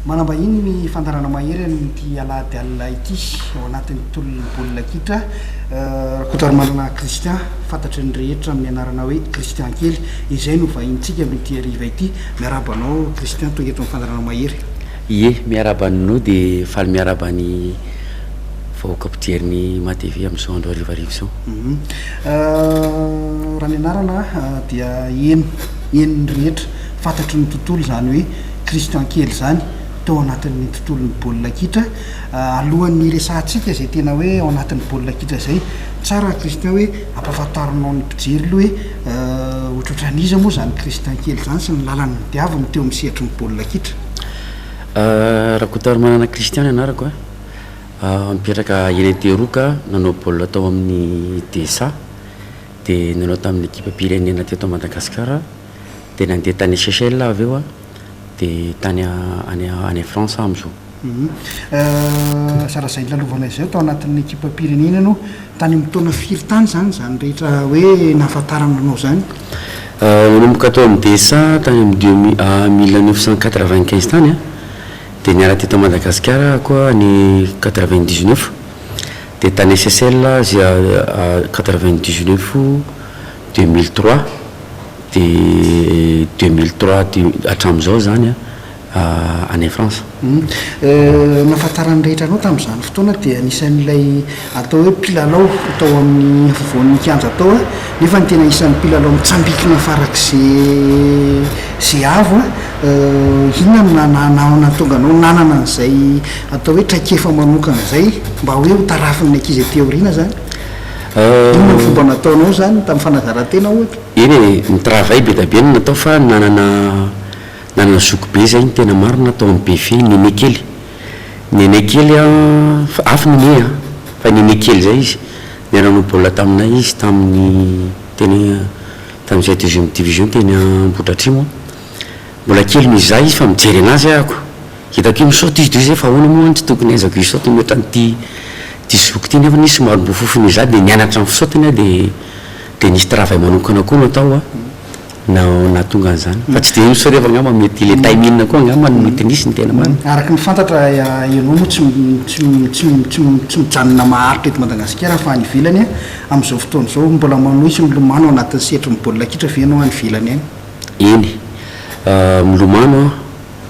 Manambahiny ny fandaharana mahery amin'ity alahady alina ity ao anatin'ny tolon'ny baolina kitra Rakotoarimanana Christian fantatry ny rehetra amin'ny anarana hoe Christian kely izay no vahinintsika aloha ity hariva ity. Miarahaba anao Christian tonga eto amin'ny fandaharana mahery. Ie, miarahaba anw dia faly miarahaba ny vahoaka mpijery ny Ima TV amin'izao andro hariva hariva izao. Raha ny anarana dia heno, henon'ny rehetra, fantatry ny tontolo izany hoe. Christian kely izany tao anatin'ny tontolon'ny baolina kitra alohan'ny hiresahantsika izay tena hoe ao anatin'ny baolina kitra izay. Tsara Christian hoe ampahafantarinao ny mpijery aloha hoe ohatrohatran'iza moa izany Christian kely izany sy ny lalany nodiaviny teo amin'ny sehatry ny baolina kitra. Rakotarimanana Christian ny anarako a, mipetraka eny Antehiroka, nanao baolina tao amin'ny DSA dia nanao tamin'ny ekipam-pirenena teto Madagasikara aho. dia nandeha tany Seychelles aho avy eo dia tany any any France aho amin'izao. Zara izay nilalovanay izay tao anatin'ny ekipam-pirenena ianao, tany amin'ny taona firy tany izany izany rehetra hoe nahafantarana anao izany? Nanomboka tao amin'ny DSA tany amin'ny deux mi- mille neuf cent quatre vingt quinze tany an, dia niala teto Madagasikara aho koa any quatre vingt dix neuf, dia tany Seychelles aho quatre vingt dix neuf, Deux mille trois de deux mille trois de hatramin'izao izany any France. Nahafantaran'ny rehetra anao tamin'izany fotoana dia anisan'ilay atao hoe mpilalao tao amin'ny afovoan'ny kianja tao an, nefa ny tena isan'ny mpilalao mitsambikina farak'izay avo an, inona no nahatonga anao nanana an'izay atao hoe traikefa manokana izay mba hoe ho tarafin'ny ankizy aty aoriana izany? Inona no fomba nataonao izany tamin'ny fanazaran-tena ohatra? Eny e, ny travail be dia be no natao fa nanana nanana zoky be izay ny tena marina aho tao amin'ny BFIA, ny aîné kely. Ny aîné kely an, fa afo ny aîné an, fa ny aîné kely izay izy, niara-nanao baolina taminay izy tamin'ny teny tamin'izay deuxième division teny Ambohidratrimo an. Mbola kely noho izaho izy fa mijery an'azy aho. Hitako io misaoty izy dresy fa ahoana moa any tsy tokony ahaizako hisaoty ny otran'ity ity zoky ity nefa izy somary mbo fofon'ny izaho dia nianatra ny fisaotiny aho dia dia nisy travail manokana koa natao a na nahatonga an'izany fa tsy dia iny sorevako angamba mety ilay timing koa angamba no mety nisy ny tena marina. Araka ny fantatra Ianao moa tsy tsy tsy tsy tsy mijanona maharitra eto Madagasikara fa any ivelany a, amin'izao fotoana izao mbola manohy sy milomano ao anatin'ny sehatry ny baolina kitra ve Ianao any ivelany any? Eny, milomano aho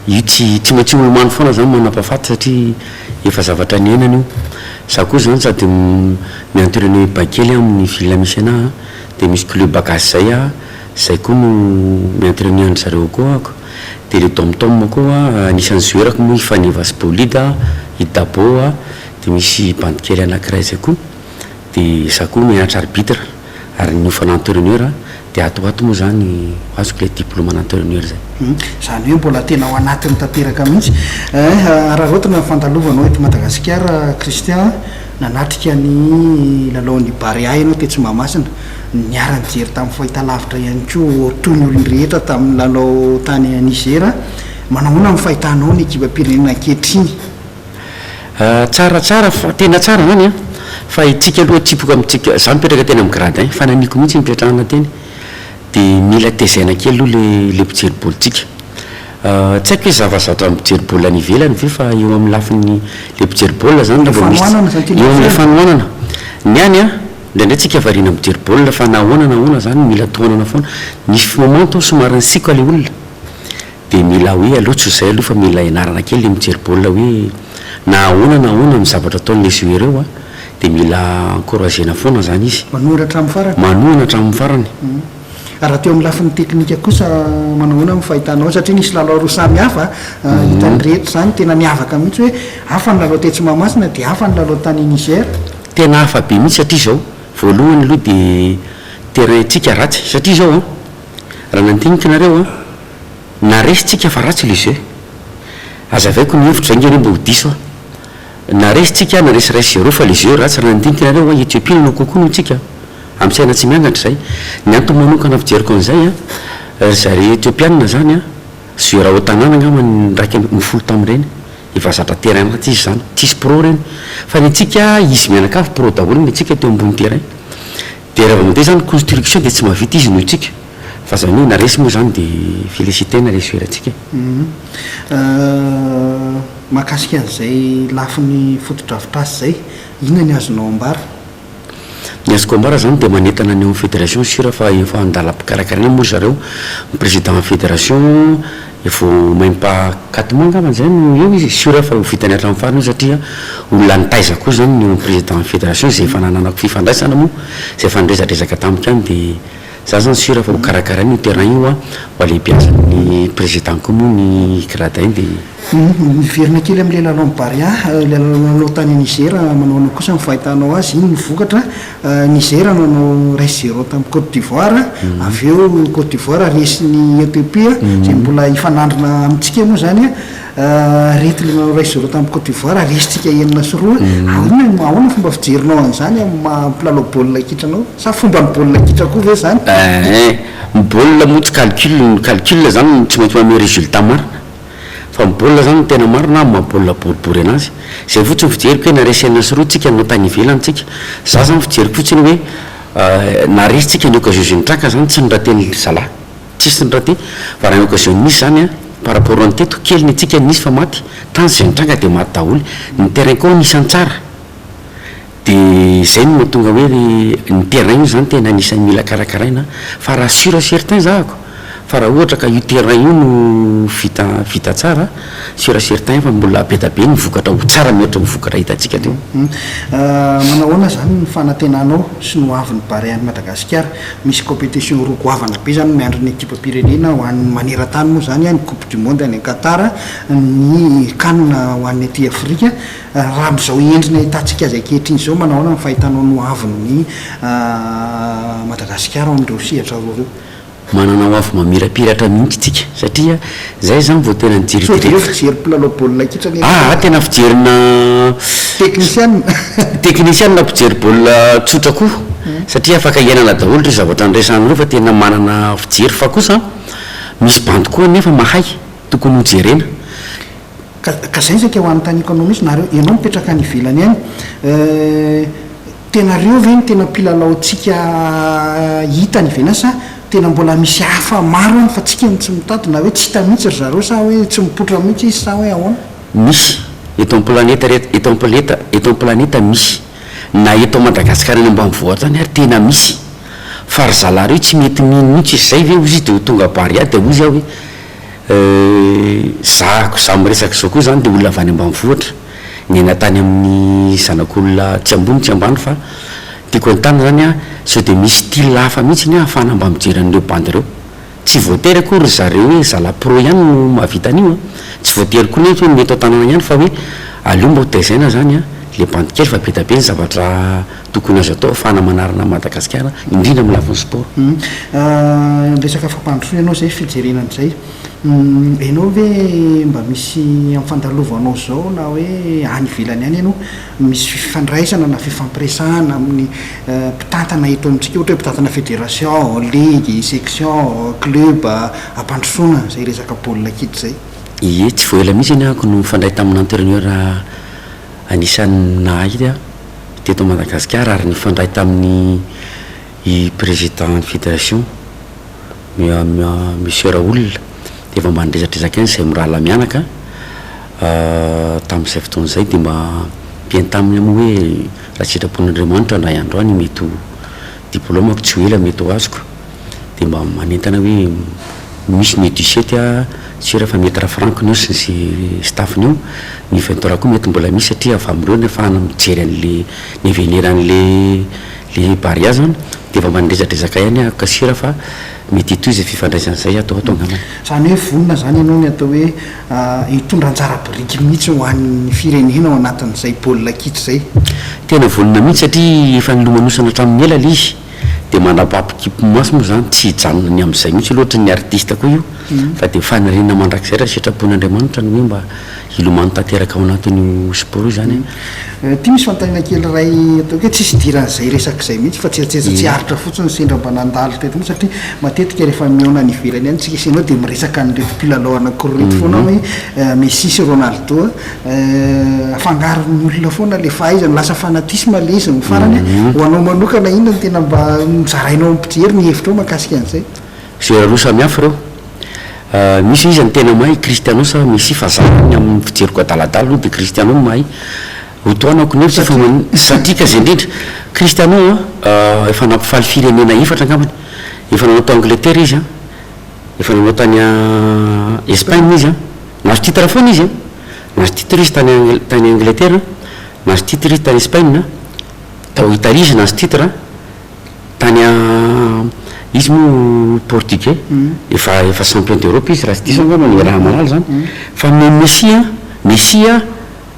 Io tsy tsy maintsy olo mamy foana zany manampahafaty satria efa zavatra niainany io. Za koa zany sady mi entraîner bain kely amin'ny ville misy anah a, de misy club gasy zay ah, zay koa no mi entraîner an-dry zareo akao ahako. De le dom tom koa anisan'ny zoerako moa i Faneva sy Bolida a, i Dabo a, de misy bandy kely anakiray zay koa, de za koa mianatra arbitre. Ary ny hofana entraineur dia ato ho ato moa izany ho azoko ilay diploma ana entraineur izay. Hum, izany hoe mbola tena ao anatiny tanteraka mihitsy eh. Araraotina ny fandalovanao eto Madagasikara Christian a. Nanatrika ny lalaon'ny Barea ianao tetsy Mahamasina. Niara-nijery tamin'ny fahitalavitra ihany koa ho toy ny olon'ny rehetra tamin'ny lalao tany Niger. Manao ahoana ny fahitanao ny ekipam-pirenena ankehitriny? Tsara tsara fa tena tsara zany an! Fa itsika aloha atsipoka amintsika, za mipetraka tena amin'ny gradin, fanahiniako mihitsy ny hipetrahana teny, de mila tezaina kely aloha le le mpijery baolitsika. Tsy haiko hoe zavazatra mijery baolina any ivelany ve fa eo amin'ny lafiny le mpijery baolina zany le mba misy, eo amin'ny fanohanana. Ny any an, indraindray tsika variana mijery baolina fa na ahoana na ahoana zany mila tohanana foana. Misy moment aho somary nisiaka le olona. Dia mila hoe aloha tsy ho izay aloha fa mila ianarana kely ny mijery baolina hoe na ahoana na ahoana ny zavatra ataon'ny lesy ireo an, dia mila encouragena foana izany izy. Manohana hatramin'ny farany. Manohana hatramin'ny farany. Raha teo amin'ny lafiny teknika kosa manao ahoana amin'ny fahitanao? Satria nisy lalao roa samy hafa hitan'ny rehetra izany tena niavaka mihitsy hoe hafa ny lalao tetsy Mahamasina dia hafa ny lalao tany Niger. Tena hafa be mihitsy satria izao, voalohany aloha dia terrain-tsika ratsy satria izao an, raha nandinika nareo an, Na resy tsika fa ratsy le jeu. Azavaiko ny hevitro zay nge re mba ho diso a. Na resy tsika na resy rais zero fa le jeu ratsy raha nandinika nareo hoa Ethiopie no lokokoa noho tsika. Am saina tsy miangatra zay. Ny antony manokana fijeriko anzay a, ry zareo Ethiopiana zany a, jeu rah au tanàna angamba ny iraika ambin'ny folo folo tam reny. Efa zatra terrain maty izy zany. Tsisy pro reny. Fa ny antsika izy mianakavy pro daholo ny antsika teo ambony terrain. Dia raha vao mandeha izany construction dia tsy mahavita izy noho isika fa izany hoe na resy moa izany dia felicite na resy ho erantsika e. Mahakasika an'izay lafiny fotodrafitrasa izay, inona ny azonao ambara? Ny azoko ambara izany dia manentana ny ao amin'ny federation sur fa efa an-dalam-pikarakaraina moa ry zareo, ny président federation, Vao maimpa quatre mois angambany izay no eo izy, sûr aho fa ho vitany hatramin'ny farany io satria olona nitaiza koa izany ny eo amin'ny président fédération izay efa nananako fifandraisana moa, izay efa niresadresaka tamiko ihany dia za izany sûr fa ho karakarainy io terrain io an, ho alehibeazan'ny président koa moa ny gradin dia. Miverina kely amin'ilay lalao am-barea, ilay lalao tany Niger, manahoana kosa ny fahitanao azy, inona no vokatra? Nizera nanao iray zéro tamin'i Côte d'Ivoire, avy eo Côte d'Ivoire resy ny Ethiopia izay mbola hifanandrina amintsika moa izany, aretina nanao iray zéro tamin'i Côte d'Ivoire resintsika enina sy roa, ahoana no, ahoana fomba fijerinao an'izany amin'ny maha mpilalao baolina kitra anao? Sa fomban'ny baolina kitra koa ve izany? Eeh, ny baolina moa tsy calcul, ny calcul izany tsy maintsy manome résultat marina. Fa ny baolina zany no tena marina aho maha baolina boribory anazy. Zay fotsiny fijeriko hoe naresy enina sy roa tsika no tany ivelany tsika. Za zany fijeriko fotsiny hoe naresy tsika ny occasion zay nitraka zany tsy niraten'ny ry zalahy. Tsisy niraty. Fa raha ny occasion nisy zany an, par rapport an'ny teto, kely ny antsika nisy fa maty. Tany zay nitranga dia maty daholo. Ny terrain koa nisy an-tsara. Dia izay no mahatonga hoe ry ny terrain io izany tena anisan'ny mila karakaraina fa raha sur et certain zahako fa raha ohatra ka io terrain io no vita vita tsara sur et certain fa mbola be da be ny vokatra ho tsara mihoatra ny vokatra hitantsika teo. Manao ahoana izany ny fanantenanao sy ny ho avin'ny Barea any Madagasikara? Misy competition roa goavana be izany miandry ny ekipam-pirenena ho an'ny maneran-tany moa izany, ny coupe du monde any Qatar, ny can ho an'ny aty Afrika. Raha amin'izao endriny ahitantsika azy ankehitriny izao, manao ahoana ny fahitanao ny ho avin'i Madagasikara ao amin'ireo sehatra roa ireo? Manana ho avy mamirapiratra mihitsy tsika satria zay zany vao tena nijery direct. Sao de reo fijery mpilalao baolina kitra anie no. Aa tena fijerina Technician. Technician mpijery baolina tsotra koa satria afaka hiainana daholo reo zavatra niresahana reo fa tena manana fijery fa kosa misy bandy koa anefa mahay tokony ho jerena Ka, ka zay zay ka ho anontaniako anao mihitsy, nareo, ianao mipetraka any ivelany any, eh, tena reo ve no tena mpilalaontsika hita any ivelany sa tena mbola misy hafa maro any fa tsika no tsy mitady, na hoe tsy hita mihitsy ry zareo sa hoe tsy mipoitra mihitsy izy sa hoe ahoana? Misy, eto am planeta rehetra, eto am planeta, eto am planeta misy, na eto Madagascar any ambanivohitra any ary tena misy, fa ry zalahy reo tsy mety mino mihitsy izy, zay ve ozy izy de ho tonga Barea de ozy aho hoe, Zahako, za miresaka zao koa zany de olona avy any ambanivohitra, niaina tany amin'ny zanak'olona tsy ambony tsy ambany fa tiako entanina zany an, sao de misy style hafa mihitsy ny ahafahana mba mijery an'ireo bandy ireo. Tsy voatery akory ry zareo hoe zala pro ihany no mahavita an'io an, tsy voatery koa nefa hoe ny eto an-tanana ihany fa hoe aleo mba ho tezaina zany an le bandy kely fa be dia be ny zavatra Tokony azo atao afahana manarina an'i Madagasikara indrindra amin'ny lafiny sport. Hum resaka fampandrosoana ianao izay fijerena an'izay hum ianao ve mba misy amfandalovanao izao na hoe any ivelany any ianao misy fifandraisana na fifampiresahana amin'ny mpitantana eto amintsika ohatra hoe mpitantana federation, ligue, section, club ampandrosoana izay resaka baolina kitra izay. Ie tsy vao ela mihitsy anie aho no nifandray tamin'ny entraineur anisan'ny nahahita teto Madagasikara ary nifandray tamin'ny i Président ny Fédération Monsieur Raoul dia efa mba nirezadrezaka ihany izay mirahalahy mianaka tamin'izay fotoana izay dia mba mpihaino taminy aho moa hoe raha sitrapon'Andriamanitra indray andro any mety ho diplaomako tsy ho ela mety ho azoko dia mba manentana hoe misy ny du sept a, tsy ela fa Maitre Franck ny eo sy ny staff ny eo, ny vingt trois koa mety mbola misy satria avy amin'ireo no afahana mijery an'le ny avenir an'le le Barea zany dia efa mba niresadresaka ihany aho kasira fa mety hitohy izay fifandraisana izay ato ho ato angambany. Izany hoe vonona izany ianao ny atao hoe hitondra anjara biriky mihitsy ho an'ny firenena ao anatin'izay baolina kitra izay? Tena vonona mihitsy satria efa nilomanosana hatramin'ny ela ilay izy. dia mandrapaha-po kimpy maso moa izany, tsy hijanona ny amin'izay mihitsy io, loatry ny artista koa io, fa dia faniriana mandrakizay raha sitrapon'Andriamanitra ny hoe mba hilomano tanteraka ao anatin'io sport io izany an. Ity misy fanontaniana kely iray ataoko hoe tsisy idiran'izay resaka izay mihitsy fa tsieritseritra tsy aritra fotsiny ny sendra mba nandalo teto mihitsy satria matetika rehefa mihaona any ivelany any tsika sy ianao dia miresaka an'ireto mpilalao anankiroa ireto foana hoe Messi sy Ronaldo, afangaron'ny olona foana le fahaizana lasa fanatisme le izy ny farany mhm. ho anao manokana inona ny tena mba mizarainao am pijery ny hevitra ao makasika an'izay fijery roa samy hafa ireo ah, misy izy ny tena mahay cristiano sa messi fa za ny amin'ny fijeriko adaladala aloha de cristiano no mahay hotoanako ny hevitra fa satika zay indrindra cristiano a ah, efa nampifaly firenena efatra angambany efa nanao tao angleterre izy a ah. Efa nanao tany Espagne izy an! Nahazo titre foana izy an! Nahazo titre izy tany Angl tany Angletera an! Nahazo titre izy tany Espagne an! Tao Italie izy nahazo titre an! Tany izy moa Portugais efa efa champion d'Europe izy raha tsy diso angamba ny raha mahalala izany! Fa ny Messi an! Messi an!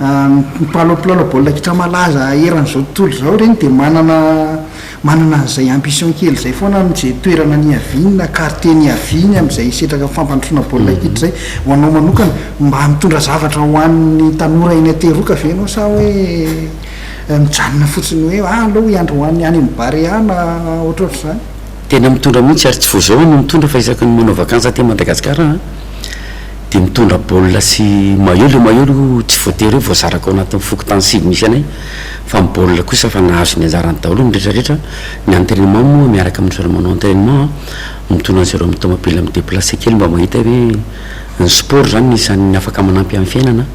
Ny mpilalao mpilalao baolina kitra malaza eran'izao tontolo izao ireny dia manana manana an'izay ambition kely izay foana amin'izay toerana niaviany na quartier niaviany amin'izay setraka fampandrosoana baolina kitra izay. Ho anao manokana, mba mitondra zavatra ho an'ny tanora eny Ateroka ve ianao sa hoe mijanona fotsiny hoe ah aleo hiandry ho an'ny any amin'ny Barea na ohatrohatr'izany? Tena mitondra mihitsy ary tsy vao izao aho no mitondra fa isaky ny manao vakansy aty Madagasikara aho an! Dia mitondra baolina sy maillot, ilay maillot aloha tsy voatery hoe voazarako ao anatin'ny fokontany sivy misy anay fa ny baolina kosa efa nahazo ny anjarany daholo ny rehetra rehetra, ny entrainement moa miaraka amin'ny zareo manao entrainement an, mitondra an'zareo amin'ny tomobila mi-deplacer kely mba mahita hoe ny sport izany no isan'ny afaka manampy amin'ny fiainana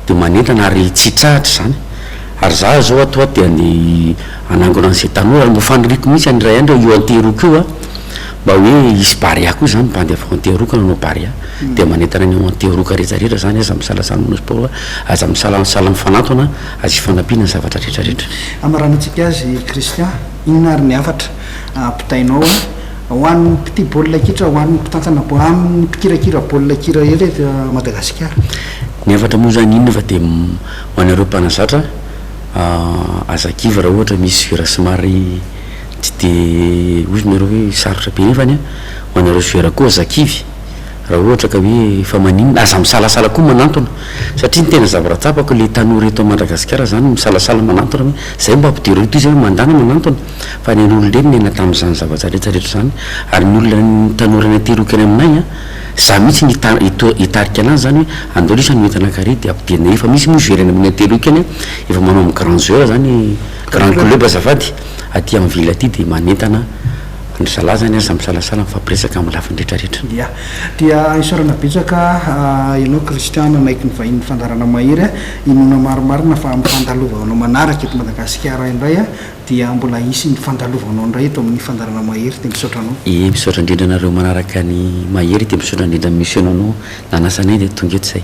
dia manentana ary tsy hitsahatra izany, ary izaho izao ato dia ny hanangona an'izay tanora, nofaniriko mihintsy any iray andro hoe io an-tery io koa. Mba hoe hisy barea koa izany, bandy avy ao Antehiroka no hanao barea, dia manentana ny ao Antehiroka rehetra rehetra izany, aza misalasala manao sport fa aza misalasala mifanantona, aza hifanampiana ny zavatra rehetra rehetra. Hamaranantsika azy Christian, inona ary ny hafatra ampitainao ho an'ny mpitia baolina kitra, ho an'ny mpitantana baolina, amin'ny mpikirakira baolina kitra eto eto Madagasikara? Ny hafatra moa izany inona fa dia ho anareo mpanazatra, aza kivy raha ohatra misy virasy mari. tsy dia hoy nareo hoe sarotra be nefany an, ho anareo joueur koa aza kivy raha ohatra ka hoe efa maninona, aza misalasala koa manantona satria ny tena zavatra tsapako ilay tanora eto Madagasikara zany no misalasala manantona hoe zay mba ampidireo toy izay hoe mandà na manantona fa ny an'olon-dreny niaina tamin'izany zavatra rehetra rehetra izany ary ny olona ny tanora nateroko eny aminay an, za mihintsy no hita- hito- hitarika anazy zany hoe andao lesy hanome entana kare dia ampidirina efa misy moa joueur eny amin'ny ateroko eny an, efa manao amin'ny grand joueur zany, grand club azafady. aty en ville aty dia manentana an-dry zalahy izany ary samy misalasala mifampiresaka amin'ny lafiny rehetrarehetra. Dia. Dia isaorana betsaka ianao Christian nanaiky ny vahinin'ny fandaharana mahery a! Inoana marimarina fa amin'ny fandalovanao manaraka eto Madagasikara indray a dia mbola hisy ny fandalovanao indray eto amin'ny fandaharana mahery dia misaotra anao. Ee misaotra indrindra anareo manaraka ny mahery dia misaotra indrindra ny misionanao nanasa anay dia tonga eto izay.